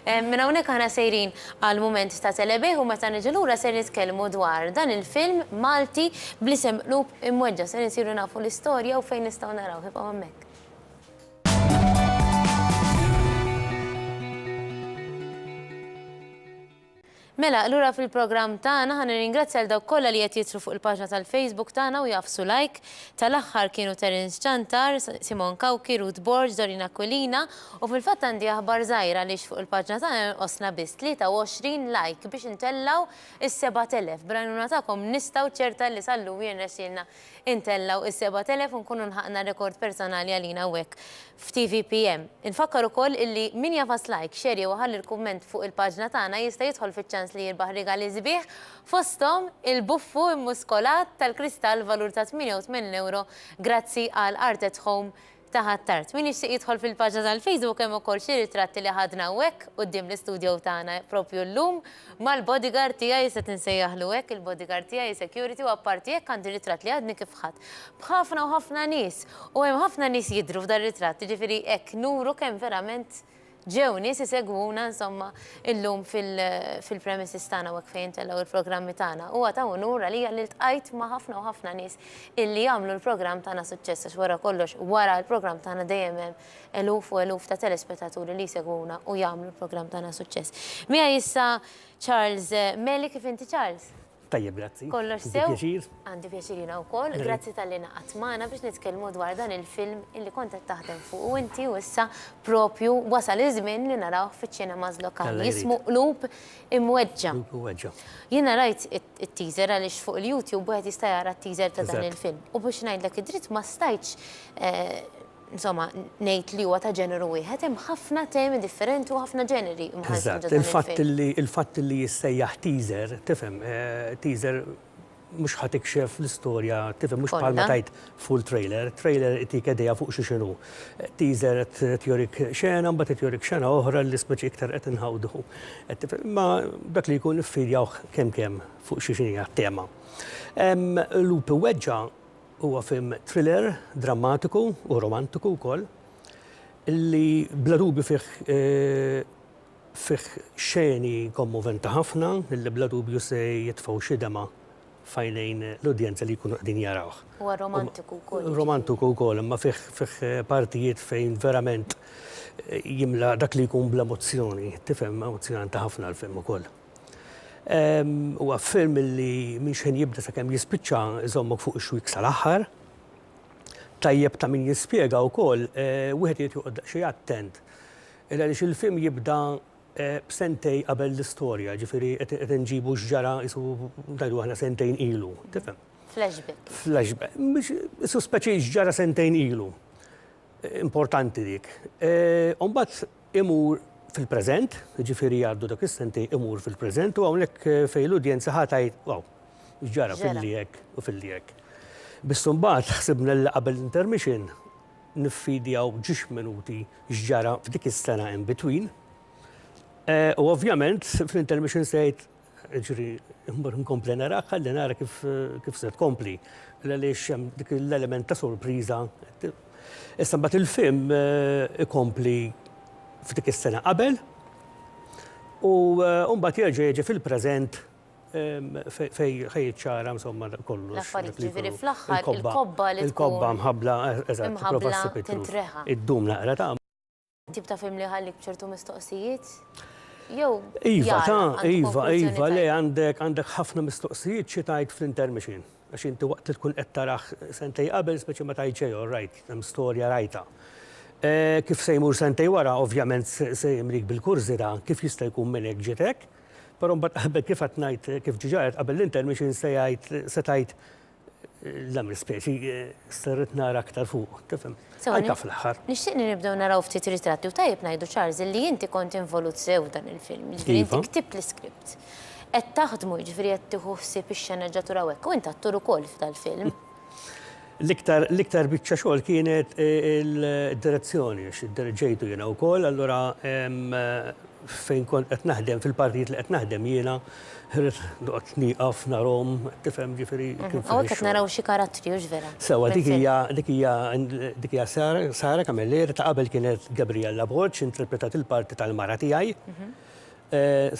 Minn hawnhekk aħna sejrin għal mument ta' telebih u meta niġu lura ser nitkellmu dwar dan il-film Malti bl-isem Qlub Imweġġgħa. Ser insiru nafu l-istorja u fejn nistgħu narawh. Ibqgħu hemmhekk. Mela, lura fil-programm tagħna, ħa nirringrazzja lil dawk kollha li qed jidħlu fuq il-paġna tal-Facebook tagħna u jagħfsu like. Tal-aħħar kienu Terence Ciantar, Simon Cauchi, Ruth Borg, Doreen Aquilina u fil-fatt għandi aħbar żgħira għaliex fuq il-paġna tagħna jonqosna biss 23 like biex intellgħu s-7,000. Bl-għajnuna tagħkom nista' u ċerta li sal-lumi jirnexxielna Intellgħu is-sebat elef u nkunu lħaqna rekord personali għalina hawnhekk f'TVPM. Infakkar ukoll illi min jagħfas like, share jew iħalli l-kumment fuq il-paġna tagħna jista' jidħol fiċ-ċans li jirbaħ rigali sbieħ fosthom il-buffu immuskolat tal-kristall valur ta' 88 ewro grazzi għal Art at Home ta' Ħ'Attard. Min jixtieq jidħol fil-paġna tal-Facebook hemm ukoll xi ritratti li ħadna hawnhekk quddiem l-istudjow tagħna propju llum mal-bodyguard tiegħi se tinsejjaħlu hekk il-bodyguard tiegħi security u apparti hekk għandi ritratt li għadni kif ħadt b'ħafna u ħafna nies u hemm ħafna nies jidhru f'dar-ritratt jiġifieri hekk nuru kemm verament Ġew nies isegwuna insomma illum fil-premises tagħna hawnhekk fejn intellgħu l-programmi tagħna. Huwa ta' unur għalija li ltqajt ma' ħafna u ħafna nies illi jagħmlu l-programm tagħna suċċess għax wara kollox wara l-programm tagħna dejjem hemm eluf u eluf ta' telespetaturi li jsegwuna u jagħmlu l-programm tagħna suċċess. Miegħi issa Charles Meli, kif inti Charles? Tajjeb, grazzi. Kollox sew. Pjaċir. Għandi pjaċir jiena wkoll. Grazzi tal-li naqadt magħna biex nitkellmu dwar dan il-film illi kont qed taħdem fuq u inti u issa propju wasal iż-żmien li narawh fiċ-ċinemas lokali. Jismu Qlub Imweġġa'. Qlub Imweġġa'. Jiena rajt it-teaser għaliex fuq il-YouTube wieħed jista' jara t-teaser ta' dan il-film. U biex ngħidlek id-dritt ma stajtx Insomma, ngħid li huwa ta' ġeneru wieħed, hemm ħafna temi differenti u ħafna ġeneri mħalltin ġo dan il-film. Eżatt, il-fatt li jissejjaħ teaser, tifhem, teaser mhux ħa tikxef l-istorja, tifhem, mhux bħalma tgħid full trailer, trailer itik idea fuq xi x'inhu. Teaser qed jurik xena, mbagħad qed jurik xena oħra li spiċċa iktar qed inħawdu. Imma dak li jkun iffidjawh kemm kemm fuq xi x'inhi t-tema. Lupi Weġġa' Huwa film thriller, drammatiku u romantiku wkoll li bla dubju fih fih xeni kommoventi ħafna li bla dubju se jitfgħu xi demgħa f'għajnejn l-udjenza li jkunu qegħdin jarawh. Huwa romantiku wkoll. Huwa romantiku wkoll imma fih fih partijiet fejn verament jimla dak li jkun bl-emozzjoni, tifhem, emozzjonanti ħafna l-film ukoll. Huwa film li minx ħin jibda sakemm jispiċċa iżommok fuq ix-xwiek sal-aħħar. Tajjeb ta' min jispjega wkoll, wieħed irid joqgħod daqsxejn attent. Għaliex il-film jibda b'sentejn qabel l-istorja, jiġifieri qed inġibu x'ġara qisu ngħidu aħna sentejn ilu, tifhem? Flashback. Flashback. Biex qisu speċi x'ġara sentejn ilu. Importanti dik. U mbagħad imur fil-preżent, jiġifieri jgħaddu dak is-sentejn imur fil-preżent u hawnhekk fejn l-udjenza ħa tgħid wow, x'ġara filli hekk u filli hekk. Biss imbagħad ħsibna li qabel l-intermission niffidjaw b'ġiex minuti x'ġara f'dik is-sena in between. U ovvjament fl-intermission se jgħid Ġri, immur inkompli narak, ħalli nara kif se tkompli. Għaliex hemm dik l-element ta' sorpriża. Issa mbagħad il-film eh, ikompli f'dik is-sena qabel u eh, mbagħad jerġa' jiġi fil-preżent fej ħajċara insomma kollu. L-affarijiet ġifieri fl-aħħar il-kobba li il-kobba mħabla eh, eżatt, prova ssib Id-dum naqra ta' Tip ta' film li jħallik b'ċertu mistoqsijiet? Jew. Iva, ta' iva, iva, le għandek għandek ħafna mistoqsijiet xi tgħid fl-intermission. Għax inti waqt li tkun qed taraħ sentej qabel, speċi ma tgħid xejn, all right, hemm storja rajta. Eh, kif se jmur sentej wara, ovvjament se jimlik bil-kurżità kif jista' jkun minn hekk ġitek, però mbagħad qabel kif qed ngħid kif ġiġa qed qabel l-intermission se jgħid se tgħid Dam l-ispeċi sterrit nara aktar fuq, tifhem? Anka fl-aħħar. Nixtieq li nibdew naraw ftit ritratti u tajjeb ngħidu Charles li inti kont involut sew dan il-film, ġifieri inti ktibt l-iskript. Qed taħdmu ġifieri qed tieħu ħsieb ix-xenegġatura u hekk, u int attur ukoll f'dal-film. L-iktar biċċa xogħol kienet id-direzzjoni, għax iddirġejtu jiena wkoll, allura Fejn kont qed naħdem, fil-partijiet li qed naħdem jiena, ħridt noqgħod nieqaf narahom, tifhem, ġifieri kien fih ix-xogħol. Hawnhekk qed naraw xi karattri, hux vera? Sewwa, dik hija, dik hija, dik hija Sara, Sara Camilleri, ta' qabel kienet Gabriella Borg, interpretat il-parti tal-mara tiegħi.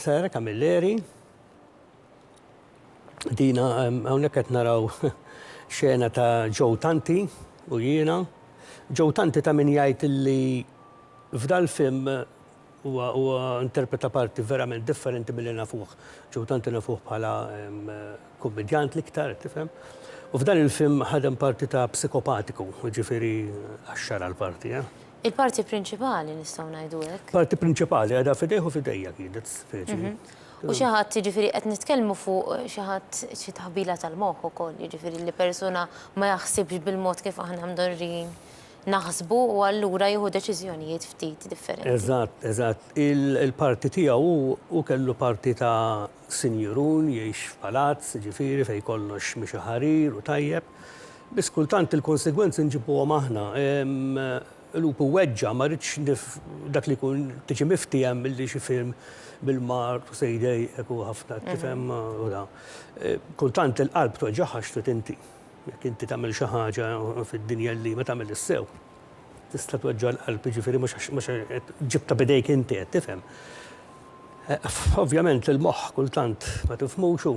Sara Camilleri, dina, hawnhekk qed naraw xena ta' Joe Tanti u jiena. Joe Tanti ta' min jgħid li f'dal-film Huwa huwa interpreta parti verament differenti milli nafuh. Joe Dante nafuh bħala kummedjant l-iktar, tifhem? U f'dan il-film ħadem parti ta' psikopatiku, jiġifieri qaxxar għall-parti, eh. Il-parti prinċipali, nistgħu ngħidu hekk. Parti prinċipali għadha f'idejh u f'idejja kienet, speċi. U xi ħadd, jiġifieri qed nitkellmu fuq xi ħadd xi taħbila tal-moħħ ukoll, jiġifieri li persuna ma jaħsibx bil-mod kif aħna mdorrijin naħsbu u allura jieħu deċiżjonijiet ftit differenti. Eżatt, eżatt. Il-parti tiegħu hu, hu kellu parti ta' sinjurun, jgħix f'palazz, jiġifieri, fejn kollox miexi ħarir u tajjeb. Biss kultant il-konsegwenzi nġibuhom aħna. Lupu iweġġa', ma rridx dak li jkun tiġi miftiehem milli xi film bil-mar to say day hekk hu ħafna, tifhem, u da. Kultant il-qalb tweġġagħha x'trid inti. Jekk inti tagħmel xi ħaġa fid-dinja li ma tagħmilhiex sew, tista' tweġġa' l-qalb, jiġifieri mhux għax mhux għax ġibtha b'idejk inti, qed tifhem. Ovvjament il-moħħ kultant ma tifhmux u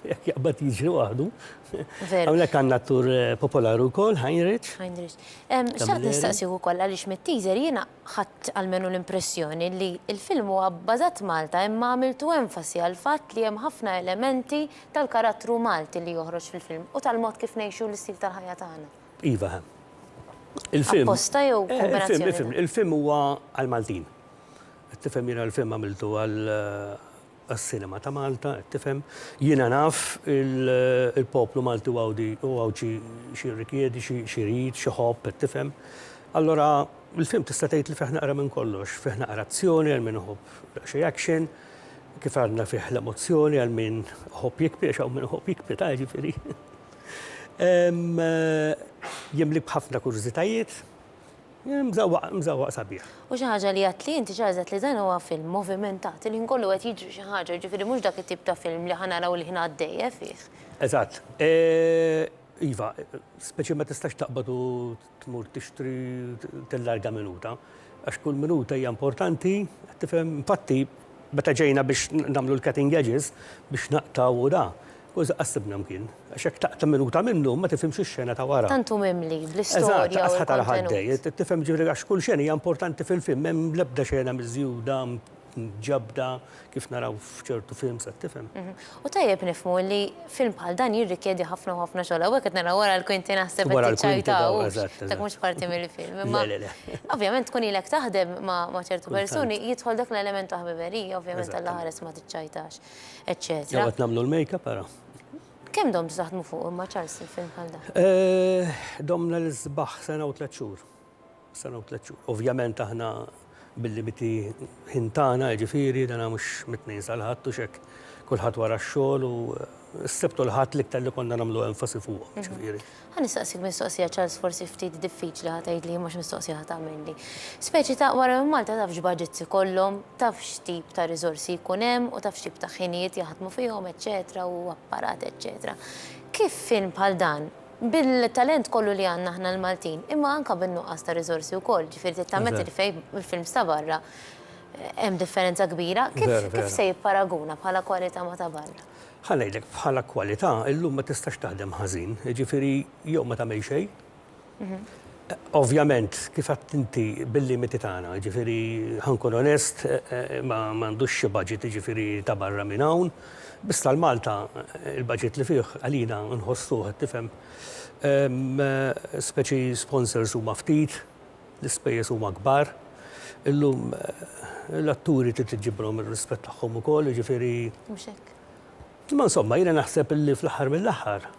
jekk jaqbad jiġri waħdu. Veru. Hawnhekk għandna attur popolari wkoll, Heinrich. Heinrich. Em, xtaqt nistaqsih ukoll għaliex mit-teaser jiena Ħadt almenu l-impressjoni li l-film huwa bbażat f'Malta imma għamiltu enfasi għall-fatt li hemm ħafna elementi tal-karattru Malti li joħroġ fil-film u tal-mod kif ngħixu l-istil tal-ħajja tagħna. Iva hemm. Il-film. Apposta jew kombinazzjoni ta'. Il-film, il-film, il-film huwa għall-Maltin. Qed tifhem jiena l-film għamiltu għal. għas-sinema ta' Malta, qed tifhem. Jiena naf il-poplu Malti u Għawdi u Għawdxi x'jirrikjedi, x'irid, x'iħobb, qed tifhem. Allura, il-film tista' tgħid li fih naqra minn kollox. Fih naqra azzjoni għal min iħobb daqsxejn action, kif għadna fih l-emozzjoni għal min iħobb jikpi għax hawn min iħobb jikpi ta' jiġifieri. Jimlik b'ħafna kurżitajiet. Mżawwaq, mżawwaq sabiħ. U xi ħaġa li għadtli inti xi ħaġa għedt li dan huwa film movimentat, il-ħin kollu qed jiġri xi ħaġa, jiġifieri mhux dak it-tip ta' film li ħa naraw il-ħin għaddej eh fih. Eżatt. Iva, speċi ma tistax taqbad u tmur tixtri tillarga minuta, għax kull minuta hija importanti, qed tifhem? Infatti, Meta ġejna biex nagħmlu l-cutting edges biex naqtgħu u da, kważi qatt sibna mkien. Għax jekk taqta' minuta minnu, ma tifhimx ix-xena ta' wara. Tant hu mimli bl-istorja u l-kontenut. Eżatt, qatt ħa tara ħadd dejjed, tifhem jiġifieri għax kull xena hija importanti fil-film, m'hemm l-ebda xena miżjuda, mġabbda, kif naraw f'ċertu films, qed tifhem. U tajjeb nifhmu li film bħal dan jirrikjedi ħafna u ħafna xogħol. Hawnhekk qed nara wara l-kwinti naħseb qed tiċċajta u dak mhux parti mill-film. Imma ovvjament tkun ilek taħdem ma' ċertu persuni jidħol dak l-element ta' ħbiberija, ovvjament Alla ħares ma tiċċajtax, eċċetera. Jew qed nagħmlu l-makeup ara. Kemm domtu taħdmu fuqu imma Charles il-film bħal dan? Domna l-isbaħ sena u tliet xhur. Sena u tliet xhur. Ovvjament aħna bil-limiti ħin tagħna, jiġifieri dan mhux mit-Tnejn sal-Ħadd u x'hekk, kulħadd wara x-xogħol u s-Sibt u l-Ħadd l-iktar li konna nagħmlu enfasi fuqhom, jiġifieri. Ħa nistaqsik mistoqsija Charles forsi ftit diffiċli ħa tgħidli imma x'mistoqsija ħa tagħmilli. Speċi ta' wara minn Malta taf x'budgets ikollhom, taf x'tip ta' riżorsi jkun hemm u taf x'tip ta' ħinijiet jaħdmu fihom eċċetera u apparat eċċetera. Kif film bħal dan, Bil-talent kollu li għandna aħna l-Maltin, imma anke bin-nuqqas ta' riżorsi wkoll, ġifieri trid tammetti li fejn il-films ta' barra hemm differenza kbira, kif se jipparaguna bħala kwalità ma' ta' barra? Ħa ngħidlek, bħala kwalità illum ma tistax taħdem ħażin, jiġifieri jew ma tagħmel xejn, Ovvjament, kif għedt inti, bil-limiti tagħna, jiġifieri ħa nkun onest, ma għandux xi budget jiġifieri ta' barra minn hawn, biss għal Malta l-budget li fih għalina nħossuh, qed tifhem, speċi sponsors huma ftit, l-ispejjeż huma kbar. Illum l-atturi trid iġġiblhom ir-rispett tagħhom ukoll, jiġifieri. Mhux hekk. Imma insomma jiena naħseb li fl-aħħar mill-aħħar.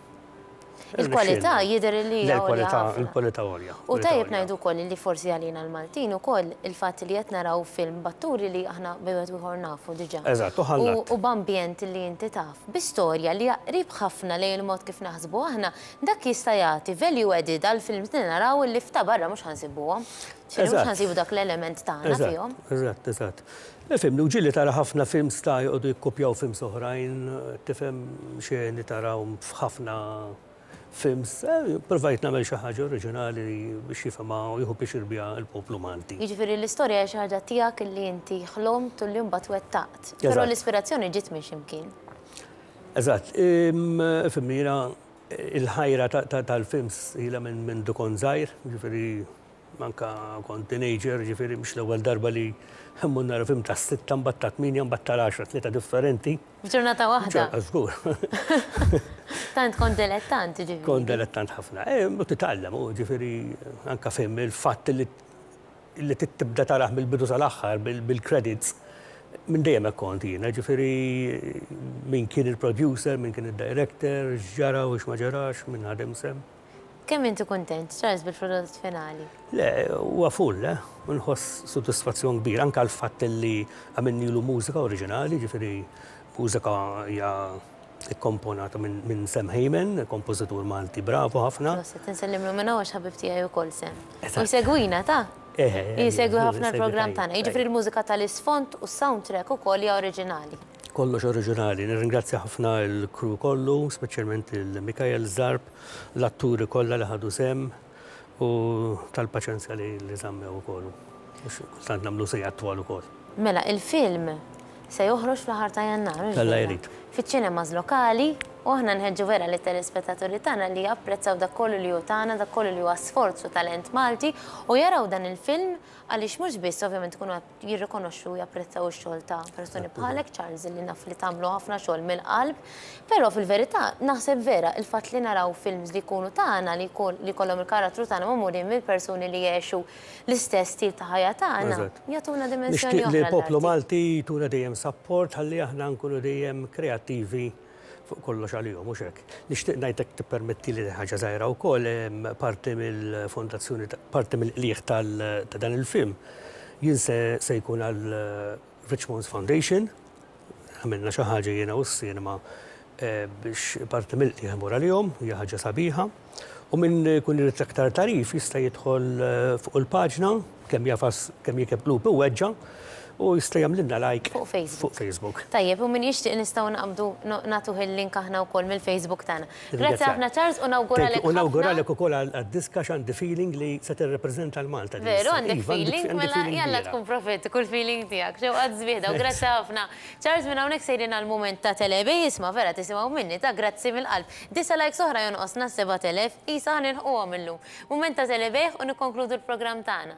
Il-kwalità jidher li hija għolja ħafna. Il-kwalità għolja. U tajjeb ngħidu wkoll li forsi għalina l-Maltin ukoll il-fatt li qed naraw film b'atturi li aħna bejn wieħed u ieħor nafu diġà. Eżatt, u ħallat. U b'ambjent li inti taf, bi storja li hija qrib ħafna lejn il-mod kif naħsbu aħna, dak jista' jagħti value added għal films li naraw li f'ta' barra mhux ħa nsibuhom. Eżatt. Mhux ħa nsibu dak l-element tagħna fihom. Eżatt, eżatt, eżatt. Ifhimni, u ġieli tara ħafna films ta' joqogħdu jikkupjaw films oħrajn, tifhem, xeni tarahom f'ħafna films. Provajt nagħmel xi ħaġa oriġinali biex jifhimha u jieħu pjaċir biha l-poplu Malti. Jiġifieri l-istorja hija xi ħaġa tiegħek li inti ħlomt u li mbagħad wettaqt. Però l-ispirazzjoni ġiet minn xi mkien. Eżatt. Ifhimni, jiena l-ħajra tal-films ilha minn mindu kont żgħir, jiġifieri Anka kont teenager, ġifieri mhux l-ewwel darba li mmur nara film tas-sitta mbagħad tat-tmienja mbagħad tal-għaxra, tlieta differenti. F'ġurnata waħda? Ġa, żgur. Tant kont delettant, ġifieri. Kont delettant ħafna. Eh, u titgħallem, u ġifieri anka film il-fatt li li tibda tarah mill-bidu sal-aħħar bil-credits minn dejjem hekk kont jiena, ġifieri min kien il-producer, min kien id-director, x'ġara u x'ma ġarax, min ħadem sehem. Kemm inti kuntent, Charles, bil-prodott finali? Le, huwa full, eh. U nħoss sodisfazzjon kbir, anke għall-fatt li għamilnielu mużika oriġinali, jiġifieri mużika hija kkomponata minn Sam Hayman, kompożitur Malti bravu ħafna. Proset, insellimlu minn hawn għax ħabib tiegħi wkoll Sam. U jsegwina, tah? Eh, eh. Jsegwi ħafna l-programm tagħna. Jiġifieri l-mużika tal-isfond u s-soundtrack ukoll hija oriġinali. Kollox oriġinali. Nirringrazzja ħafna l-crew kollu, speċjalment lil Mikael Zarb, l-atturi kollha li ħadu sehem u tal-paċenzja li li żammew ukoll u għax kultant nagħmlu siegħat twal ukoll. Mela, il-film se joħroġ fl-aħħar ta' Jannar, mhux Alla vera? jrid. Fiċ-ċinemas lokali u aħna nħeġġu vera lit-telespettaturi tagħna li japprezzaw dak kollu li hu tagħna, dak kollu li huwa sforz u talent Malti u jaraw dan il-film għaliex mhux biss ovvjament ikunu jirrikonoxxu u japprezzaw ix-xogħol ta' persuni bħalek, Charles, li naf li tagħmlu ħafna xogħol mill-qalb. Però fil-verità, naħseb vera il-fatt li naraw films li jkunu tagħna, li jkollhom il-karattru tagħna magħmulin mill-persuni li jgħexu l-istess stil ta' ħajja tagħna, jagħtuna dimensjoni oħra. Nixtieq li l-poplu Malti jtuna dejjem sapport ħalli aħna nkunu dejjem kreattivi. Fuq kollox għalihom, mhux hekk? Nixtieq ngħid jekk tippermettili din ħaġa żgħira wkoll, parti mill-fondazzjoni ta' parti mill-qligħ tal ta' dan il-film jien se se jkun għal Richmond's Foundation, għamilna xi ħaġa jiena u s-cinema biex parti mill-qligħ imur għalihom, hija ħaġa sabiħa. U min ikun irid aktar tagħrif jista' jidħol fuq il-paġna kemm jafas kemm jekeb qlub iweġġa' u jista' jagħmlilna like Fuq Facebook. fuq Facebook. Tajjeb, u min jixtieq nistgħu naqbdu no- nagħtuh il-link aħna wkoll mill-Facebook tagħna. Grazzi Ringrazzjak. ħafna Charles u nawguralek Thank you. U ħafna. nawguralek ukoll għal għad-disk għax għandi feeling li se tirrepreżenta l-Malta din Veru, is-sena. għandek Iva, għandi- feeling, għandi mela feeling jalla kbira. tkun profitt, kull feeling tiegħek. Xewqa Żbieħda u Thanks. grazzi ħafna. Charles, minn hawnhekk sejrin għall-mument ta' Telebej, isma' vera tisimgħu minni, ta' grazzi mill-qalb. Disa' likes oħra jonqosna s-sebat elef, qisha ħa nilħquhom illum. Mument ta' telebejħ u nikkonkludu l-programm tagħna.